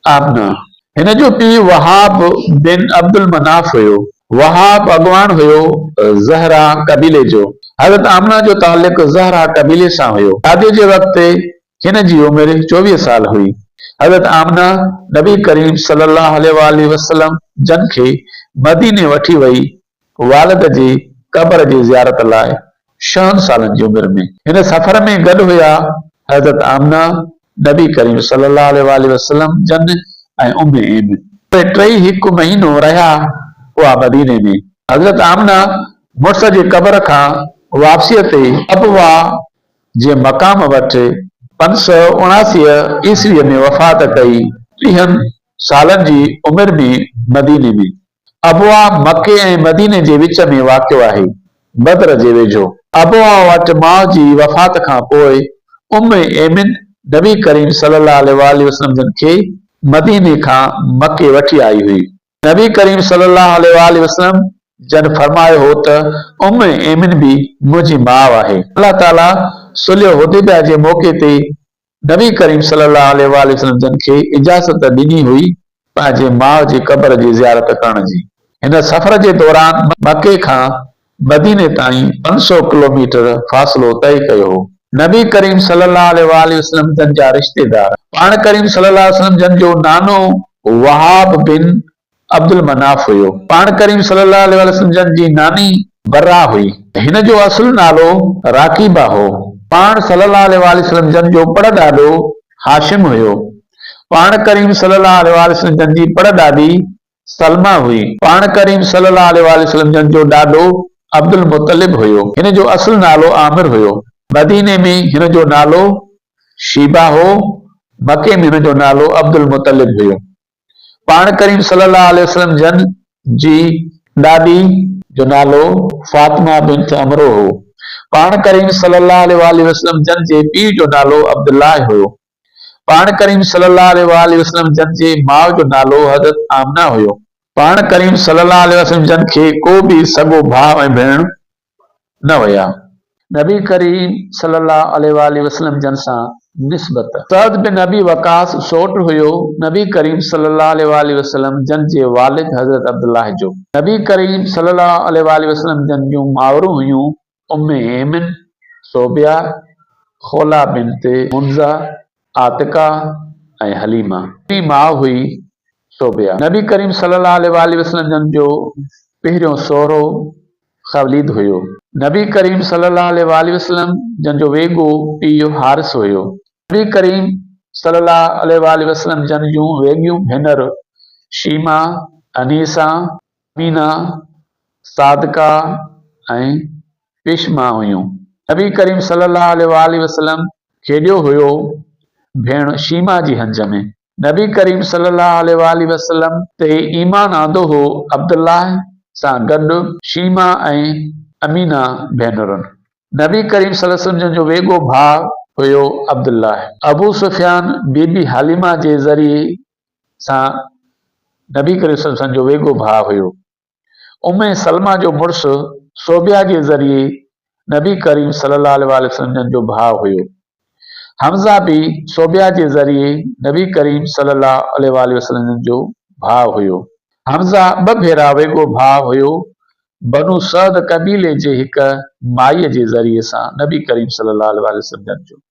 آمنه، هن جو پيء وهاب بن عبدالمناف هيو. وهاب اڳواڻ هيو زهره قبيلي جو. حضرت آمنه جو تعلق زهره قبيلي سان هيو. شاديء جي وقت هن جي عمر چوويهه سال هئي. حضرت آمنه نبي ڪريم صلي الله عليه وآله وسلم جن کي مديني وٺي وئي والد جي قبر جي زيارت لاء ڇهن سالن جي عمر ۾ هن سفر ۾ گڏ هيا، حضرت آمنه، نبي ڪريم صلي الله عليه واٰله وسلم جن ۽ ام ايمن. اهي ٽئي هڪ مهينو رهيا هئا مديني ۾. حضرت آمنه مڙس جي قبر کان واپسيء تي ابواء جي مقام وٽ پنج سؤ اڻاسي عيسويء ۾ وفات ڪئي، ٽيهن سالن جي عمر ۾ مديني ۾. ابواء مڪي ۽ مديني جي وچ ۾ واقع آهي، بدر جي ويجهو. ابواء وٽ ماء جي وفات کان پوء ام ايمن نبي ڪريم صلي الله عليه وآله وسلم جن کي مديني کان مڪي وٺي آئي هئي. نبي ڪريم صلي الله عليه وآله وسلم جن فرمايو هو ته ام ايمن به منهنجي ماء آهي. الله تعاليٰ صلح حديبية جي موقعي تي نبي ڪريم صلي الله عليه واٰله وسلم جن کي اجازت ڏني هئي پنهنجي ماء جي قبر جي زيارت ڪرڻ جي. هن سفر جي دوران مڪي کان مديني تائين پنج سؤ ڪلوميٽر فاصلو طئي ڪيو هو. نبي ڪريم صلي الله عليه واٰله وسلم جن جا رشتيدار. پاڻ ڪريم صلي الله عليه وسلم جن جو نانو وهاب بن عبدالمناف هيو. پاڻ ڪريم صلي الله عليه وآله وسلم جن جي ناني برّه هئي. هن جو اصل نالو راقيبه هو. پاڻ صلي الله عليه وآله وسلم جن جو پڙ ڏاڏو هاشم هيو. پاڻ ڪريم صلي الله عليه وآله وسلم جن جي پڙ ڏاڏي سلمه هئي. پاڻ ڪريم صلي الله عليه وآله وسلم جن جو ڏاڏو عبدالمطلب هيو. هن جو اصل نالو عامر هيو. مديني ۾ هن جو نالو شيبه هو. مڪي ۾ هن جو نالو عبدالمطلب هيو. پاڻ ڪريم صلّي اللّٰه عليه وسلّم جن جي ڏاڏي جو نالو فاطمه بنت عمرو هو. پاڻ ڪريم صلّي اللّٰه عليه واٰله وسلّم جن جي پيء جو نالو عبدالله هيو. پاڻ ڪريم صلّي اللّٰه عليه واٰله وسلّم جن جي ماء جو نالو حضرت آمنه هيو. پاڻ ڪريم صلّي اللّٰه عليه وسلّم جن کي ڪو به سڳو ڀاء ۽ ڀيڻ نه ويا. نبي ڪريم صلي الله عليه وآله وسلم جن سان نسبت. سعد بن ابي وقاص سؤٽ هيو نبي ڪريم صلي الله عليه وآله وسلم جن جي والد حضرت عبدالله جو. نبي ڪريم صلي الله عليه وآله وسلم جن جون مائرون هيون ام ايمن، صوبيه، خوله بنت حنظه، عاتقه ۽ حليمه. جي ماء هئي صوبيه. نبي ڪريم صلي الله عليه وآله وسلم جن جو پهريون سهرو خوليد هيو. نبي ڪريم صلي الله عليه واٰله وسلم جن جو ويڳو پيء حارث هيو. نبي ڪريم صلي الله عليه واٰله وسلم جن جون ويڳيون ڀينر شيما، انيسه، امينه، صادقه ۽ پشمه هيون. نبي ڪريم صلي الله عليه واٰله وسلم کيڏيو هيو ڀيڻ شيما جي هنج ۾. نبي ڪريم صلي الله عليه وآله وسلم تي ايمان آندو هو، عبدالله سان گڏ شيمه ۽ امينه ڀينرن. نبي ڪريم صلي الله عليه وسلم جن جو ويڳو ڀاء هيو عبدالله. ابو سفيان بي بي حليمه جي ذريعي سان نبي ڪريم صلي الله عليه وسلم جو ويڳو ڀاء هيو. ام سلمه جو مڙس صوبيه جي ذريعي نبي ڪريم صلي الله عليه واٰله وسلم جن جو ڀاء هيو. حمزه به صوبيه جي ذريعي نبي ڪريم صلي الله عليه واٰله وسلم جن جو ڀاء هيو. حمزه ٻه ڀيرا ويڳو ڀاء هيو، بنو سعد قبيلي جي هڪ مائيء جي ذريعي سان نبي ڪريم صلي الله عليه واٰله وسلم جن جو.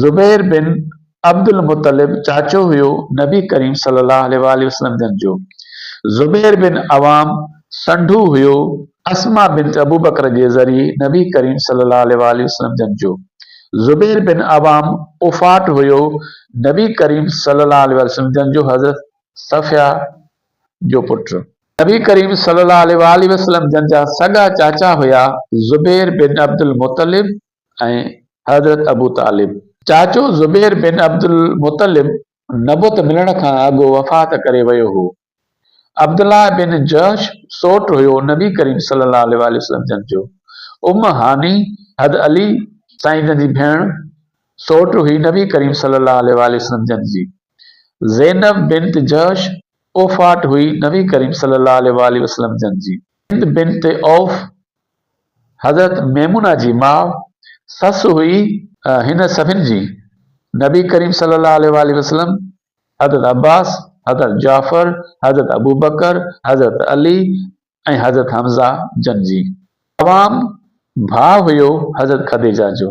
زبير بن عبدالمطلب چاچو هيو نبي ڪريم صلي الله عليه وآله وسلم جن جو. زبير بن عوام سنڍو هيو اسماء بنت ابوبڪر جي ذريعي نبي ڪريم صلي الله عليه وآله وسلم جن جو. زبير بن عوام ڦوڦاٽ هيو نبي ڪريم صلي الله عليه وآله وسلم جن جو حضرت صفيه جو پٽ. نبي ڪريم صلي الله عليه وآله وسلم جن جا سڳا چاچا هيا زبير بن عبدالمطلب ۽ حضرت ابو طالب. چاچو زبير بن عبدالمطلب نبوت ملڻ کان اڳ وفات ڪري ويو هو. عبدالله بن جحش سوٽ هيو نبي ڪريم صلّي اللّٰه عليه واٰله وسلّم جن جو. ام هاني، حض علي سائين جن جي ڀيڻ، سوٽ هئي نبي ڪريم صلّي اللّٰه عليه واٰله وسلّم جن جي. زينب بنت جحش پوڦاٽ هئي نبي ڪريم صلّي اللّٰه عليه واٰله وسلّم جن جي. هند بنت عوف حضرت ميمونه جي ماء سس هئي هن سڀن جي نبي ڪريم صلي الله عليه واٰله وسلم، حضرت عباس، حضرت جعفر، حضرت ابوبڪر، حضرت علي ۽ حضرت حمزه جن جي. عوام ڀاء هيو حضرت خديجه جو